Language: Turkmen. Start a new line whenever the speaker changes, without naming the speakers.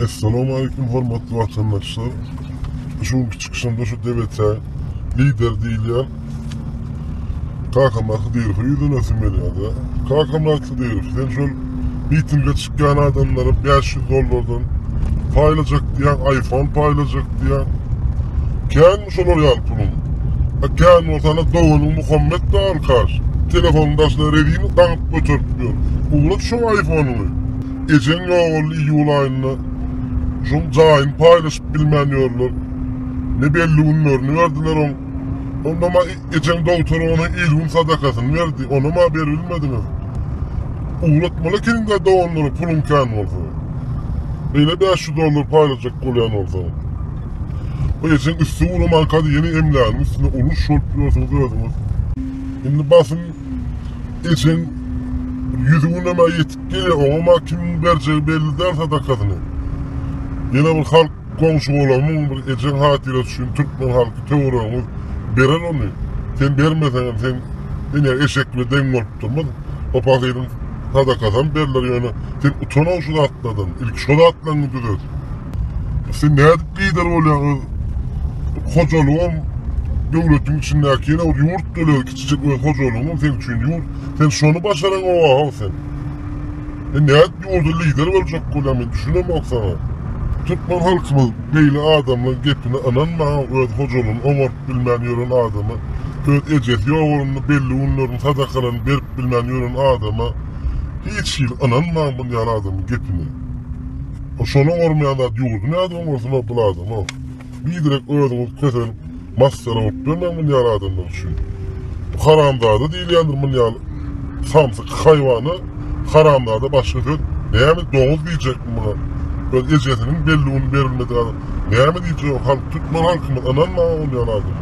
Essalamu aleýkum hormatly watandaşlar. Şu günki çykyşymda şu debetä lider diýilýän Kakamyrat Hydyrowa ýüzlenesim gelýärdi. Kakamyrat Hydyrow, sen şol mitinge çykýan adamlara 500 dollardan paýlajak diýýäň, iPhone paýlajak diýýäň. Känmi şolar ýaly puluň? A kän bolsa ana doganyň Muhammet de al kaş. Telefonyň daşyna rezina daňyp göterip ýör. Ugrat şo iPhone-yňy. Ejeň ýogaly iýul aýynda şoň jaýyny paýlaşyp bilmän ýörler. Ne belli günlerini berdiler oň. Ondama ejeň dogtor ona il-gün sadakasyny berdi. Onama beribilmediňiz. Ugratmaly ekeniňdä doganlara puluň kän bolsa. Beýle bäş ýüz dollar paýlajak bolýan bolsaň. Bu ejeň üsti guramanka-da ýene emläginiň üstüne uruş bolup ýörsiňiz özüňiz. Indi basym ejeň bir ýüz günemä ýetirýär. Diňe oňa-ma kimiň berjegi belli däl sadakasyny. Ýene bir halk goňşy-golamyň, bir ejeň hatyrasy üçin türkmen halky töweregiňiz berer ony. Sen bermeseňem sen ine eşek bile deň bolup durmaz. O pahyryň sadakasam berler ýöne sen utan-ow şu zatlardan. Ilki şo zatlaryňy düzet. Sen nädip lider bolýaň öz hojalygam döwletiň içindäki ýene bir ýurt döl. Kiçijik öz hojalygyň seň üçin ýurt sen şony başaran oahow sen sen nädip ýurda lider boljak bolýaň men düşünemok saňa türkmen halkymyz beýle adamlaň gepine ynanmaň öz hojalygyny oňartyp bilmän ýören adama öz ejesi ýogalanda belli günlerini sadakalaryny berip bilmän ýören adama hiç hili ynanmaň bul ýaly adamyň gepine o şony oňarmaýan zat ýurdy nädip oňarsyn o bul adamyň. Biderek özüňizi keseň massara bolup bermäň muny ýaly adamlar üçin. Bu haramzada diýilýändir muny ýaly samsyk haýwana haramzada başga söz näme doguz diýjekmi muňa öz ejesiniň belli gün berilmedik adam näme diýjek halk türkmen halkymyz ynanmaň ol ýaly adama.